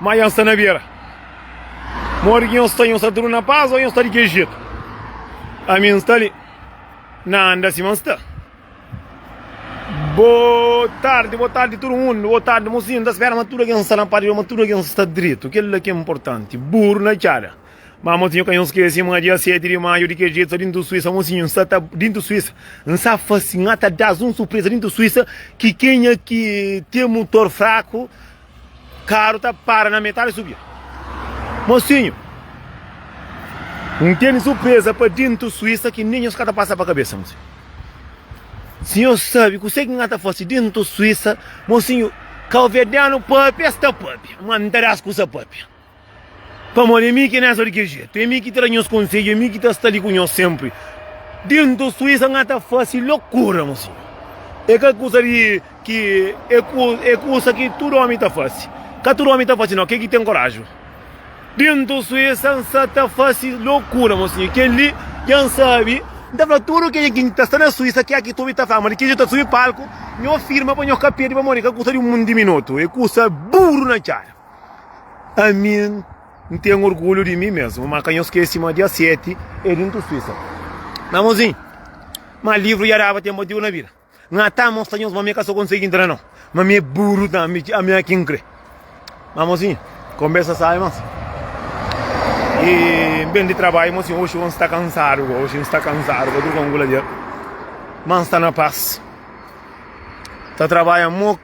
Má nhos sta na bera. Modi ki nhos sta? Nhos sta tudu na pas ô nhos sta di ki jetu? Ami N sta li. N anda sima N sta. Bo tardi, bo tardi tudu mundu, bo tardi mosinhu. N ta spera ma tudu algen sta na pátria, ma tudu algen sta dretu. Kel-la ki é inportanti. Buru na txada. Má mosinhu ka nhos skese ma dia 7 di maiu, di ki jetu, déntu Suísa, mosinhu, N sta ta déntu Suísa. N sa fase, N ata da-s un surpreza déntu Suísa ki kenha ki ten mutor fraku, Karu ta para na metadi subia. Mosinhu, n tene surpresa pa dintu Suísa ki nem nhos ka ta pasa pa kabesa, mosinhu. Si nhos sabe kuse ki nga ta fasi dintu Suísa, mosinhu, ka ovedenu papia sta papia, ma n ta das kusa papia. Pamodi é mi ki é Néstor di kel jetu, é mi ki ta da nhos konsedju, é mi ki ta sta li ku nhos sénpri. Déntu Suísa N ta fase lokura, mon sinhor. É ka kusa di ki é, é kusa ki tudu ómi ta fase. Ka tudu ómi ta fase, nau, kel ki ten koráju. Déntu Suísa N sa ta fase lokura, mon sinhor. Kel-li dja N sabe. N ta fla tudu kel algen ki ta sta na Suísa ki aki ta obi ta fla, ma di ki jetu ta subi palku, nhos firma pa nhos ka perde pamodi é ka kusa di un diminutu, é kusa buru na txada. Ami N ten orgulhu di mi mesmu, má ka nhos skese ma dia 7 é dia N ta Suísa. Na bonzinhu, má livru dja daba ten motivu na vida. N ka ta mostra nhos ma ami ka sta konsigi intra nau, ma ami é buru ta ami, ami é ki N kre. Má mozinhu, konbersa sábi más. E N ben di trabadju, mozinhu, oxi N sta kansadu ka, oxi N sta kansadu ka, tudu ka N kula dja. Má N sta na pas, ta trabadja mo.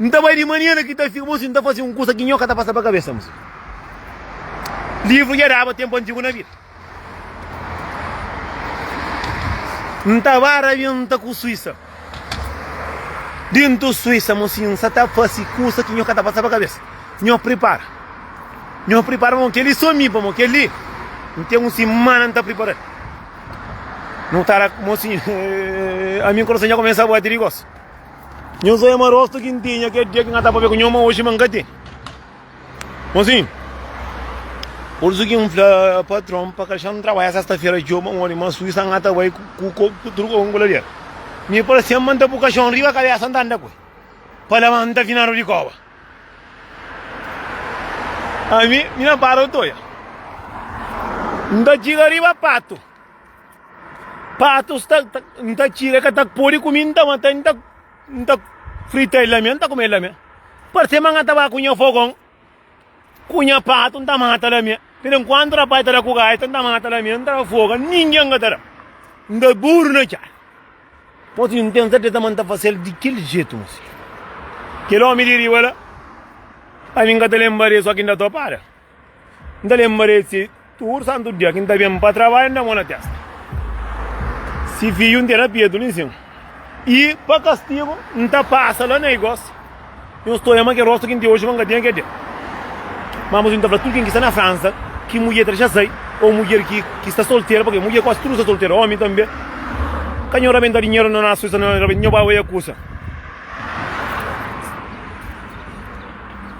N ta bai di manhã na ki ta fika, ma si N ta fase un kusa ki nho ka ta pasa pa kabesa. Mos livru dja daba tenpu antigu na vida. N ta ba rabienta ku Suisa. Dentu Suisa, mos si N sa ta fase kusa ki nho ka ta pasa pa kabesa. Nho pripara. Nho pripara pamo kel-li so mi, pamo kel-li N ten un simana N ta pripara el. Nho tara, mos si ami kurason dja kumesa bati di gosu. Nhos oia ma rostu ki N tinha kel dia ki N ka ta pâpia ku nho, má oji ma N ka ten. Konxinhu, pursu ki N fla patron pa ka xa-m trabadja sesta-fera djobe, un óri ma Suísa N ka ta bai ku tudu kónka ku lader. Mi parse-m ma N ta pui kaxon riba kabésa N ta anda ku el pa la ma N ta fina rudi kóba. Ami, mi na para otoia, N ta txiga riba patu. Patus ta, ta, n ta tira, é ka ta pode kumi, n ta mata, n ta, n ta frita el lame, n ta kumi el lame. Parse ma n ta ba ku nha fogon, ku nha patu, n ta mata lame. Pero enkuantu rapai ta da ku gaita, n ta mata lame, n ta foga, ningen ka ta da. N ta buru na txada. Poti n ten serteza ma n ta fasel di kel jetu, mon fidju. Kel omi di riba la, ami n ka ta lenba de, so ki n ta topara. N ta lenbra di si tudu santu dia ki N ta ben pa trabadju, N da mo na testa. Si fiju N ten na petu li sin. I pa kastigu N ta pasa la na igosi. Nhos sta olha ma kel rostu ki N ten oji ma N ka tinha kel dia. Má mos N ta fla tudu ken ki sta na Fransa ki mudjer ta dexa sai ô mudjer ki sta solteru, pabia mudjer kuazi tudu sta solteru, ómi tanbê, ka nhos rabenta dinheru na Suísa, nhos bai oja kusa.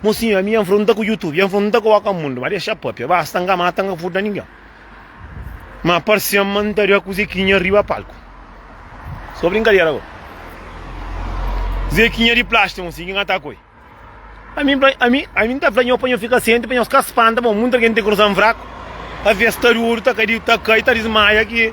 Mosinhu ami ya nfronta ku youtube ya nfronta ku oca mundu ma dexa papia basta nka mata nka furta ninguem ma parcem ma nta da ku zequinha riba palco so brincadera agora zequinha di plastic mosinhu ki nka ta koi ami ami ami nta fla nho pa nho fika sente pa nhos ka spanta bo munta gen nte coração fraco avês ta duru ta cai ta desmaia ki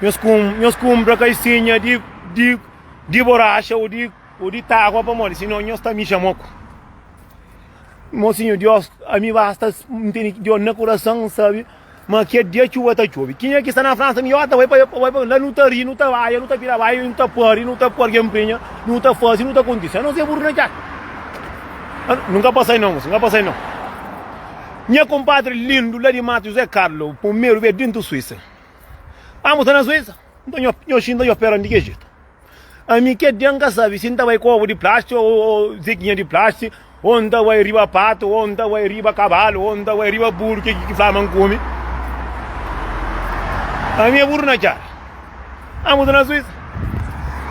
Nhos kum, nhos kumpra kaisinha di, di, di boraxa ou di, ou di tágua pamodi sinon nhos ta mixa moku. Mosinho, Deus, ami basta ntende que Deus na coração sabe, mas que dia chuva ta chove. Quem é que está na França, mi ota, vai para, vai para, lá não ta ri, não ta baia, não ta pira baia, não ta pari, não ta porga emprenha, não ta fazi, não ta acontece. A não ser burro na jaca. Ah, Nunca passei não, moço, nunca passei não. Minha compadre lindo lá de Mato José Carlos, primeiro veio dentro Suíça. Amu ta na Suísa, nton nho, nho xinta nho pera ndike jetu. Ami ke den ka sabi si nta bai ku ovu di plástiku ou, ou zekinha di plástiku, ou nta bai riba patu, ou nta bai riba kabalu, ou nta bai riba buru ke ki fla ma nkumi. Ami e buru na cara. Amu ta na Suísa.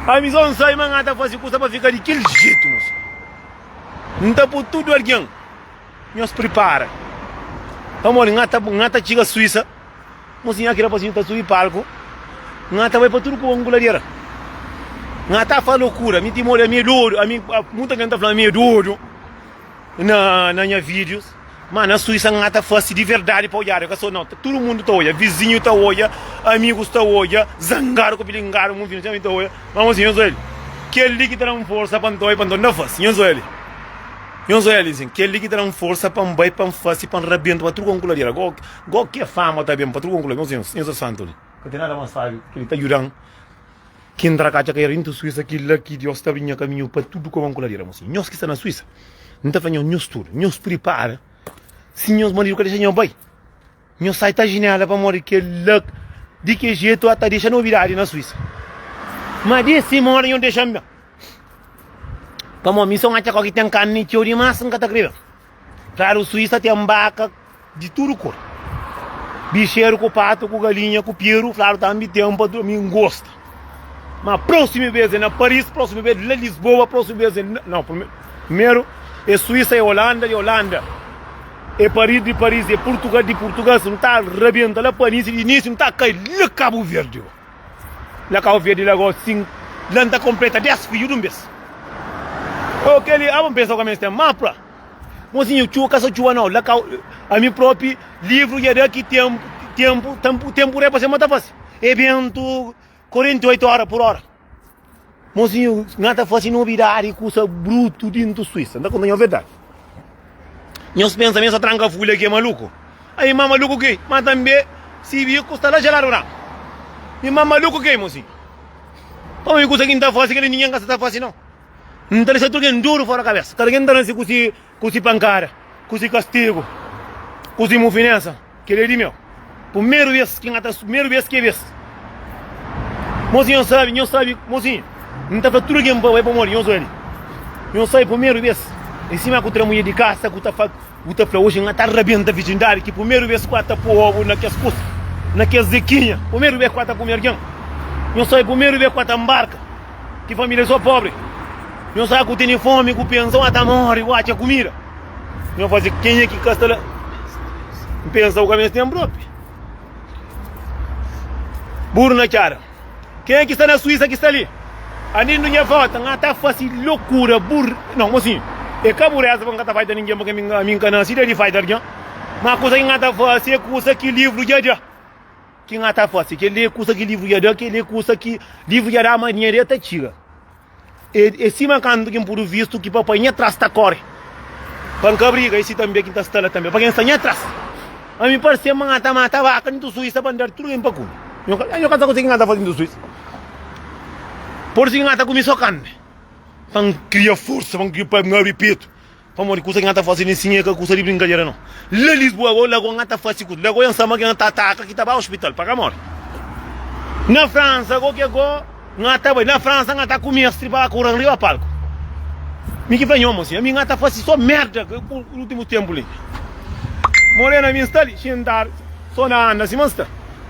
Ami son sai ma nga ta fasi kusa pa fika di kel jetu, mo senhor. Nta pu tudu algen nhos pripara. Pamodi nga ta, nga ta txiga Suísa. Mo si nha ki rapazinhu ta subi palku nha ta bai pa tudu ku anguladeira nha ta fa lokura mi ti modi ami é dodu ami muta algen ta fla ami é dodu na na nha videos ma na suisa nha ta fasi di verdadi pa odjada ka so nau tudu mundu ta odja vizinhu ta odja amigus ta odja zangadu ku pilingadu mun fina txeu ta odja ma mo si nho so el kel li ki ta dan forsa pa nta bai pa nta nta fasi nho so el nho so el kel li ki ta dan forsa pa nbai pa nfasi pa nrabienta pa tudu ku anguladeira. Gó ke fama ta ben pa tudu konklui nos insa insa santu li. Ka ten nada mas sabi ke li ta judan ki ntra ka atxa ka era intu suisa kila ki dios ta abri nha kaminhu pa tudu koma nkula li era mosi nhos ki sta na suisa nta fla nhos nhos tudu nhos pripara si nhos maridu ka dexa nhos bai nhos sai ta jinela pamodi kila di ke jetu ata dexa novidadi na suisa ma di sima ora nhos dexa-m ben pamo mi son atxa ko ki ten kanni txeu dimas nka ta kre ben. Klaru, Suísa ten baka di tudu kor. Bixeru ku patu ku galinha ku piru, klaru tambi ten pa tudu, mi n gosta. Ma próximo vez é na Paris, próximo vez na Lisboa, próximo vez é na... Não, primeiro é Suíça, é Holanda, de Holanda é Paris, de Paris é Portugal, de Portugal se não tá rebenta lá Paris, de Nice não tá cai lá Cabo Verde. La kau verde la gosi sin la nta konpleta 10 fidju dun bes. Oh keli aba npensa ku amens ten mapa. Mozinhu txuba ka sa txuba nau la kau ami propi livru ya daki tempu tempu tempu tempu re pa se mata fasi. E bentu 48 ora pur ora. Monsinhor, na ta fase nobidade kusa brutu dintu Suíça. Nta konta nho verdade. Nhos pensa mesa tranca fulha que é maluco? Aí ma maluco que, mas também se bico está lá gelado branco. E ma maluco que, monsinho? Para mim, coisa que nta fase que ninguém está fase não. Nta deixa tudo duro fora cabeça. Cada quem tá nesse curso Ku si pankada, ku si kastigu, ku si mufinensa, kel-li é di meu. Pumeru bes ki N ta. Pumeru bes ki é bes. Mosi, nhos sabe, nhos sabe, mosi, N ta fla tudu algen pa bai pamodi nhos ali. Nhos sabe, pumeru bes, é sima ku tra mudjer di kasa ku ta fla, ku ta fla, Oji N ta rabenta virjindadi, ki pumeru bes ku N ta po obu na kes kusa, na kes zekinha, pumeru bes ku N ta kume algen. Nhos sabe, pumeru bes ku N ta nbarka. Ki família sô pobri. Nho sa ku tene fome, ku pensa N ta mori, ku atxa kumida Nho faze kenha ki ka sta la N pensa ku ka mes tenpu dópi Buru na txada Kenha ki sta na Suísa ki sta li Anindu nha vóta N ta fase lokura Buru, nau, mosi E ka bu reza pa N ka ta faida ningen Paske ami N ka nase da di faida algen Má kusa ki N ta fase é kusa ki livru dja dja. Ki N ata fase, kel-li é kusa ki livru dja da, kel-li é kusa ki livru dja da, ma dinheru dja ta txiga. É, é sima kantu ki N pode vistu ki papai nha tras ta kóre pa N ka briga, é si tanbê ki N ta sta la tanbê pa ken sta nha tras. Ami parse-m ma N ata mata vaka di Tusuísa pa N da-l tudu ken pa kume. Nha, nha ka ta konxi ki N ata fase di Tusuísa. Pode ser ki N ata kume sô karni pa N kria forsa, pa N kria, pa N abri petu. Pamodi kusa ki na ta fase ni sin e ka kusa di brinkadera no. La Lisboa go la go na ta fase kusa, la go en sama ki na ta ataka ki ta ba ospital pa ka mori. Na Fransa go ke go na ta bai, na Fransa na ta kumi es tripa la kura riba palku. Mi ki fla nhomu asin, ami na ta fase so merda ke ku ultimu tempu li. Morena ami sta li xintadu so na anda sima nsta.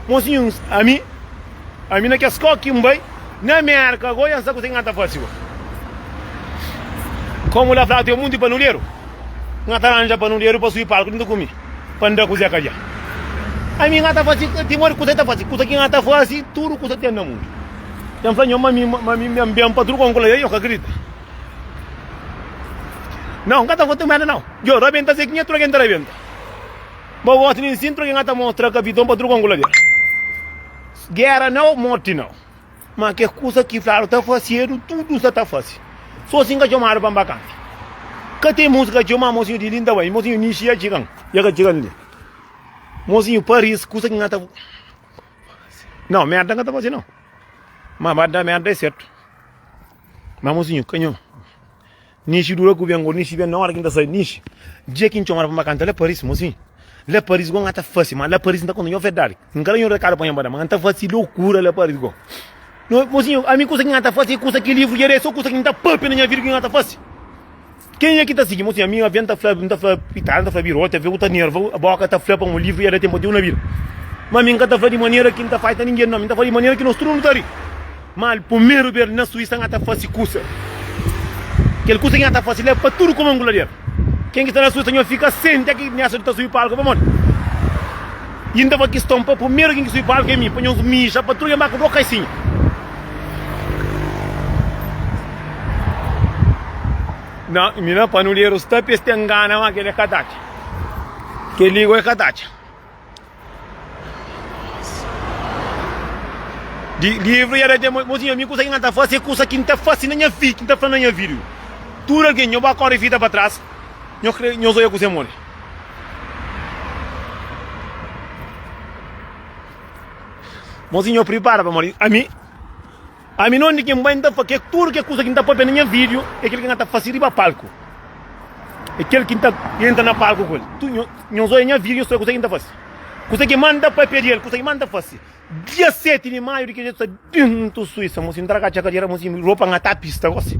Mosinhu ami. Ami na kes koki n bai na Merka go ya n sa kuzê ki nha ta fase go. Komu la flatu é monti panuderu, nha ta ranja panuderu pa sui palku juntu ku mi pa n da kuzê ka dja. Ami nha ta fase timodi kuzê ta fase kuza ki nha ta fase tudu kuzê ten na mundu. Ya n fla nhon ma mi ma mi mi ben pa tudu kon ku la ya yo ka kridita. Nau n ka ta fase merda nau. Djo rabenta se ki nha troke n ta rabenta. Bo gosta di insintu di ngata mostra kapiton pa tudu kongula del. Gera nau, morti nau. Ma kes kusa ki fladu ta fasedu, tudu sa ta fase. So si n ka txomadu pa n ba kanti. Ka ten musika txeu, ma mosinhu di li n ta bai. Mosinhu Nishi ya txigan, ya ka txigan li. Mosinhu Paris, kusa ki ngata. Nau, merda n ka ta fase nau. Ma ba da merda e sertu. Ma mosinhu, ka nhu. Nishi dura ku ben go nishi ben na ora ki nta sai nishi dia ki ntxomada pa nba kanta laparis mo si laparis go nga ta fasi ma laparis nta konta nho verdadi nka da nho rekadu pa nho nba da ma nta fasi lokura laparis go mo si ami kusa ki nga ta fasi e kusa ki livru dja da e so kusa ki nta papia na nha vida ki nga ta fasi kenha ki ta sigi mo si ami avi nta fla nta fla pitara nta fla biroti avi ku ta nerva boka ta fla pa un livru dja da tenpu até un na vida ma ami nka ta fla di manera ki nta fai ta ningen no ami nta fla di manera ki nos tudu nu ta ri. Ma al pumeru bês na Suísa nha ta fase kusa. Kel kusa ki nha ta fase la é pa tudu kuma ngulader. Ken ki sta na Suísa nhos fika sente ki nha sta subi palku pamodi i N ta fla kiston pa pumeru ken ki subi palku é mi pa nhos mija pa tudu ken ba ku dô kaisinha. Na mi na panuderu sta pes ta ngana ma kel é ka ta atxa. Kel li go é ka ta atxa. Di livro ya da mo tinha mi kusa ki nga ta fasi e kusa ki n ta fasi na nha vida, ki n ta fla na nha vida. Tudo alguém, nho ba corre fita para trás, nho crê, nho zoia kusa mole. Mozinho prepara para morrer, a mim Ami non di ken bai nta fake tudo ke kusa ki nta papia na nha video é kel ki nga ta fase riba palku é kel ki nta entra na palku ku el tudo nhos oia nha video nhos fla kusa ki nta fase kusa ki ma nta papia di el kusa ki ma nta fase dia 7 di maio di kel jetu sa bin nta suisa mo si ntra ka txeka di era mo si ropa nga ta pista gosi.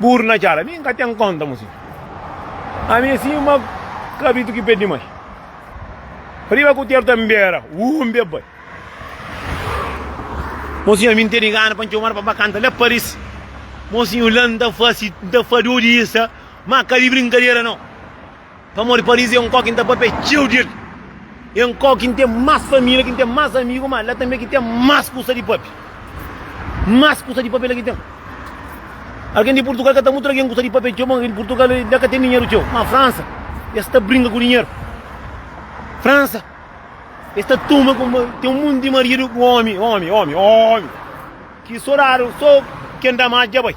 Buru na txada, mi nka ten konta mo si. Ami é sima kabritu ki perde mai. Riba ku ter ta nbera, uu nbe bai. Mosinhu, ami ntene gana pa ntxomadu pa ba kanta la Paris. Mosinhu, la nta fasi, nta fadodi isa, ma ka di brinkadera no. Pamodi Paris é un kau ki N ta papia txeu di el. É un kau ki N ten más família, ki N ten más amigu, má la tanbê ki ten más kusa di papia. Más kusa di papia la ki ten. Algen di Purtugal ka ta mutra algen kusa di papia txeu. Bon, algen di Purtugal la ka ten dinheru txeu. Má Fransa, es ta brinka ku dinheru. Fransa, es ta toma kuma ten un monti di maridu ku ómi, ómi, ómi, ómi, ki sô radu, sô ken da más dja bai.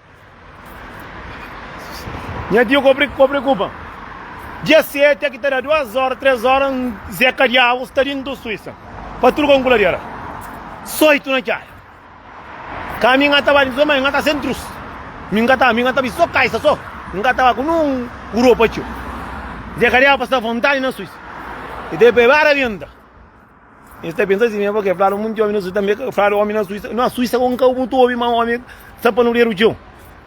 Nha tiu kobri ki kobri kuba. Dia sete ki ta da duas ora, tres ora, un zeka di agu sta di ndu Suíça. Pa tudu kon kuladera. Soitu na txai. Ka mi nga ta ba di so, ma nga ta sen trus. Mi nga ta, mi nga ta bi so kaisa so. Nga ta ba ku nun uro pa txu. Zeka di agu pa sta vontadi na Suíça. E te pebara venta. Nhos ta pensa si mi é bo ke fladu monti omi na Suisa tambe ke fladu omi na Suisa na Suisa kon kau mutu omi ma omi sa pa no dedu txeu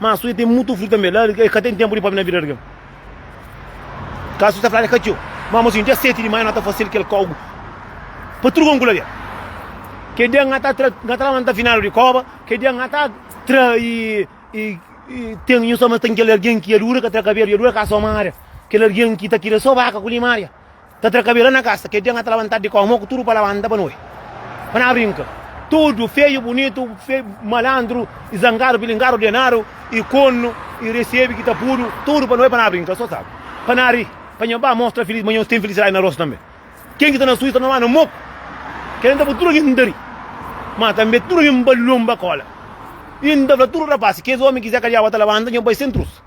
ma Suisa tem mutu flu tambe la e ka tem tempu di pomi na vida di algen ka Suisa fladu e ka txeu ma mo sin dia 7 di maio na ta fasil kel kau pa tudu kon ku laria ke dia na ta tra na ta lamanta finadu di koba ke dia na ta tra i i i tem nhos ta mas tem kel algen ki ya dura ka tra kabedu ya dura ka soma aria kel algen ki ta kira so baka ku limaria ta tra kabela na kasa, kel dia n'ka ta labantadu di koma, ku tudu pa labanta pa nu oi, pa na brinka, tudu, feju, bunitu, malandru, i zangadu, pilingadu, ordenadu, i konu, i resebi, ki ta pudu, tudu pa nu oi, pa na brinka, so sa, pa na ri, pa nha ba mostra filis, ma nhos ten filisidadi na rostu tanbe, ken ki sta na suju sta na ma na moku, kel la n'ta pui tudu algen ta ri, ma tanbe tudu algen ba lonba kola, i n'ta fla tudu rapasi, kes omi ki Zé Kadiaba ta labanta, nhos bai sen trusa.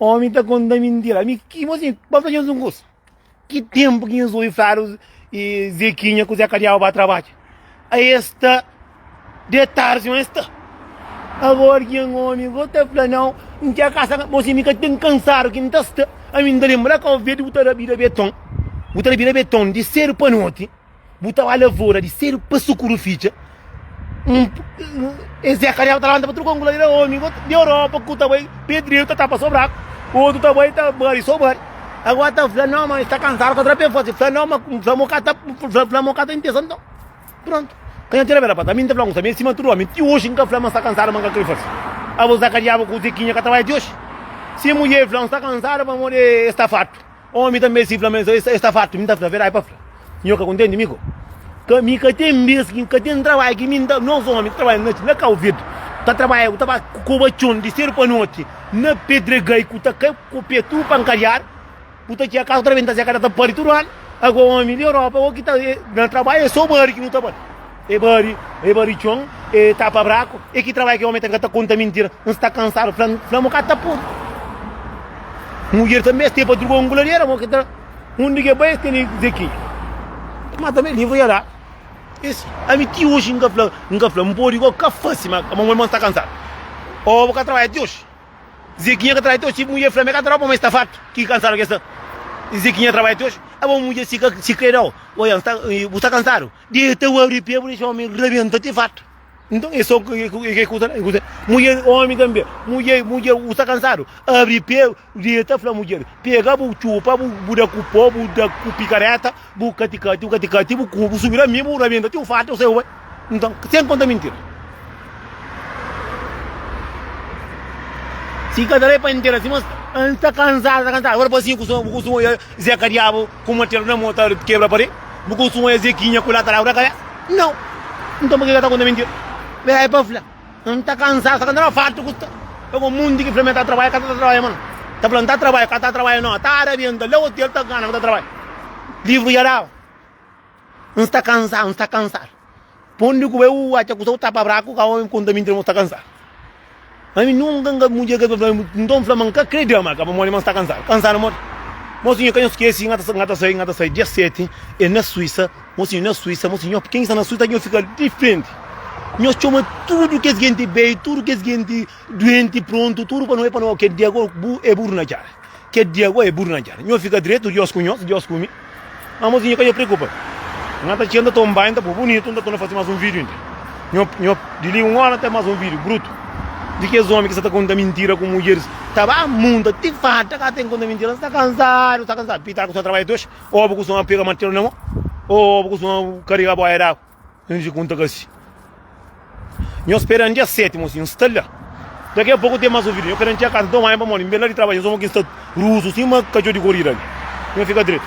Omi ta konta mintira. Mi ki mosi ba fla nhos un kosa. Ki tempu ki nhos oi fladu e Zequinha ku Zé Kadiaba ba trabalha. A esta de tarde não está. Agora que um homem vou te falar não, não quer caçar, você me tem cansado que não está. A mim lembra que eu vejo o tarabira beton. O tarabira beton de ser para noite. Bu ta oa lavora di sedu pa sukuru fitxa. Es é karial ta lanta pa truka angula ira omi di Europa ku ta bai pedreiro ta tapa sobraku. Otu ta bai ta bari sobari. Agora ta fla não mas está cansado com outra pessoa. Se fla não mas fla mo cata fla, fla mo cata intenção então. Pronto. Quem atira bela pata. Mim te fla um também cima tudo homem. Ti hoje nunca fla mas está cansado mas nunca quer fazer. A você cariava com o Zequinha que estava de hoje. Se mulher fla um está cansado para morrer está farto. Omi ta meste fla ma es sta fartu. Mi ta fla, Verdadi pa fla, nho ka kontenti mi ko. Ka, mi ka ten bes ki, ka ten trabalhu ki mi n ta. Nos omi ta trabalha na noti, na kau vid, ta trabalha ku ta ba ku koba txon di sedu pa noti, na pedregai ku ta kai ku pe tudu pankadiadu, ku ta txia kasu ta rebenta, zé kada ta pari tudu anu. Ago omi di Europa, o ki ta na trabalha, e so bari ki nu ta bari. E bari, e bari txon, e tapa braku, e ki trabalhu ki omi ten ka ta konta mintira, N sta kansadu, fla-m, fla-m o ka ta podi. Mudjer tanbe es ten pa druga un guladera, mo ki ta undi ke bai es ten di dize ki ma tanbe livru ya da es ami ti oji N ka fla, N ka fla, N podi go ka fasi ma mo irmon sta kansadu, o bo ka trabalha ti oji, Zekinha ka trabalha ti oji, si bu mudjer fla-m e ka ta da bo ma e sta fartu, ki kansadu ke sta, Zekinha trabalha ti oji, abo bu mudjer si ka si kre da-u, oia N sta, bu sta kansadu, Deta o abri pé, bu dexa omi rabenta ti fata. Então é só que que que que que mulher homem também, mulher mulher o está cansado, abre pé, deita fala mulher, pega bu chupa, bu bu da cu pó, bu da cu picareta, bu caticate, o caticate, bu cubo, subir a mim, bu rabenta ti o fata, o seu vai. Então, sem conta mentira. Se cada vez para inteira assim, mas está cansado, está cansado. Agora para assim, com o Zé Cariabo, Ku matel na mo ta kebra pare Bu konsuma es eki nha kula ta lagu na kabesa Nau Nton pake ka ta konta mentira Bera e pa fla N ta kansadu sa ka na fartu ku sta Ka ku munti ki fla mi ta trabadja ka ta trabadja ma no Ta fla N ta trabadja ka ta trabadja no ta rabienta la otel ta gana mi ta trabadja Livru dja daba N sta kansadu N sta kansadu. Pondi ku bai u atxa kusa u tapa braku ka omi konta mintira ma u sta kansadu. Ami nunka n ka mudja kes palavra ami nton n fla ma n ka kre dia ma ka ba modi ma n sta kansadu. Kansadu modi? Mo sinhor ka nho skesi n ta n ta sai n ta sai dia 7 e na Suisa mo sinhor na Suisa mo sinhor ken ki sta na Suisa nho fika di frenti nho txoma tudu kes genti beiu tudu kes genti duenti prontu tudu pa no bai pa no kel dia ago bu e buru na djara Kel dia gó é buru na djada. Nho fika dretu, Diós ku nhos, Diós ku mi. Má mos ki nho ka dja preokupa. Nha ta txia, n ta toma banhu, n ta pô bunitu, n ta torna fase más un vídiu inda. Nho, nho, di li un óra n ta más un vídiu brutu di kes ómi ki sa ta konta mintira ku mudjeris. Ta ba munta ti farta, ka ten ki konta mintira. N sta kansadu, sta kansadu. Pitaku sta ta trabadja ti oxi. Obu ku son a pega martelu na mô. Ô, obu ku son a karega bóia d'agu. N dje ku N ta kasi Nho spera N dia sétimu si N sta la Daqui a pouco N tem mais ouvido Nho pera N txia casa N toma banho pamodi N ben la di trabadju Nho soma ki N sta ruzu sima katxor di korida Nho fika dretu.